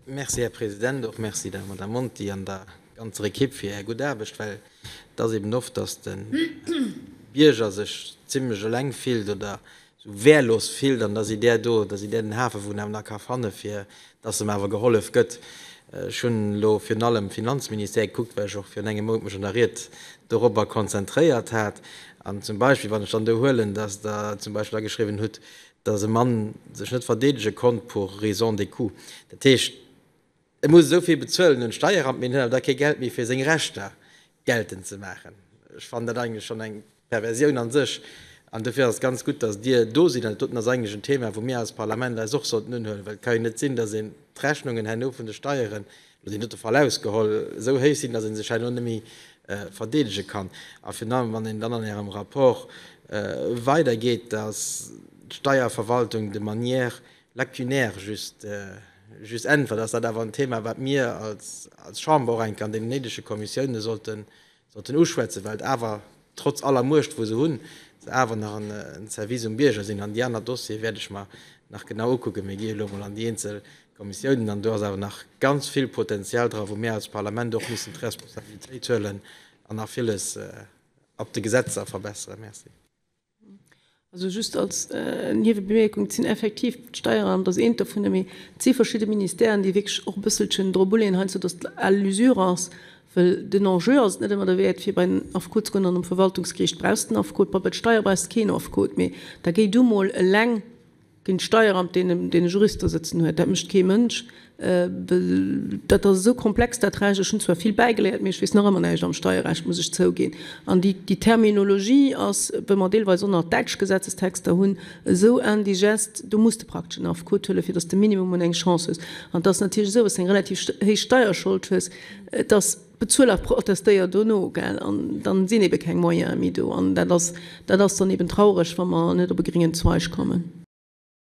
Merci, Här President. Och merci der Madame Monti an der ganzer Ekipp fir Är gutt Aarbecht, well et ass eben oft, dass de Bierger sech zimlech eleng fillt oder esou wehrlos fillt an da sidd Där do, da sidd Där den Hafe wou en awer nach ka fanne fir dass em awer gehollef gëtt. Ech hunn elo virun allem um Finanzministère gekuckt, well ech och virun engem Mount mech an der Ried dorobber konzentréiert hat. An zum Beispill, wann ech dann do huelen, dass Der zum Beispill ageschriwwen hutt, dass e Mann sech net verdeedege konnt pour raison de coût, dat heescht, e muss esou vill bezuelen un d'Steieramt, mee en huet awer da kee Geld méi fir seng Rechter geltend ze maachen. Ech fannen dat eigentlech schonn eng Perversioun a sech an dofir ass et ganz gutt, dass Dir do sidd an dat doten ass eigentlech en Thema, wou mir als Parlament eis och sollten unhuelen, well et ka jo net sinn, dass een d'Rechnungen herno vun de Steieren, Mir sinn dote voll ausgeholl, esou héich sinn, datt ee sech hei elo net méi verdeedege kann. A virun allem, wann een dann an Ärem Rapport weider geet, datt d'Steierverwaltung de manière lacunaire just äntwert, ass dat awer en Thema, wat mir als Chamber och enke an deenen néidege Kommissiounen sollten Sollten uschwätzen, well et awer, trotz aller Muecht wou se hunn, se awer nach en Service um Bierger sinn. An déi aner Dossiere wäert ech mer nach genau ukucken. Mir gi elo mol an déi eenzel Kommissiounen an do ass awer nach ganz vill Potenzial dra wou mir als Parlament och mussen d'Responsabilitéit huelen an nach villes ab de Gesetzer verbesseren. Merci. Also just als Niewebemerkung, Et sinn effektiv d'Steieramt ass eent dovunner, mee et si verschidde Ministèren, déi wierklech och e bësselchen dru bulleen, heiansdo datt et al l'usure ass. Well den Enjeu ass et net ëmmer derwäert, fir bei den Affekot ze goen. An um Verwaltungsgeriicht brauchs de en Affekot, bei de Steier brauchs de keen Affekot, mee da géi du mol eleng Deen Steieramt deen den Jurist do sëtzen huet, dat mécht kee Mënsch, well dat ass esou komplex dat Recht. Ech hunn zwar vill bäigeléiert, mee ech weess nach ëmmer näischt am Steierrecht, muss ech zouginn. An déi Terminologie ass, wéi mer deelweis och nach däitsch Gesetzestexter hunn, esou indigeste, do muss de praktesch en Affekot huelen, fir datt s de minimum un eng Chance hues. An et ass natierlech esou, wa s de eng relativ héich Steierschold hues, et ass. Bezuel a protestéier dono, gell? An dann sinn ebe keng Moyene méi do. An dat ass, dat ass dann eben traureg, wa mer net op e gringen Zweig kommen.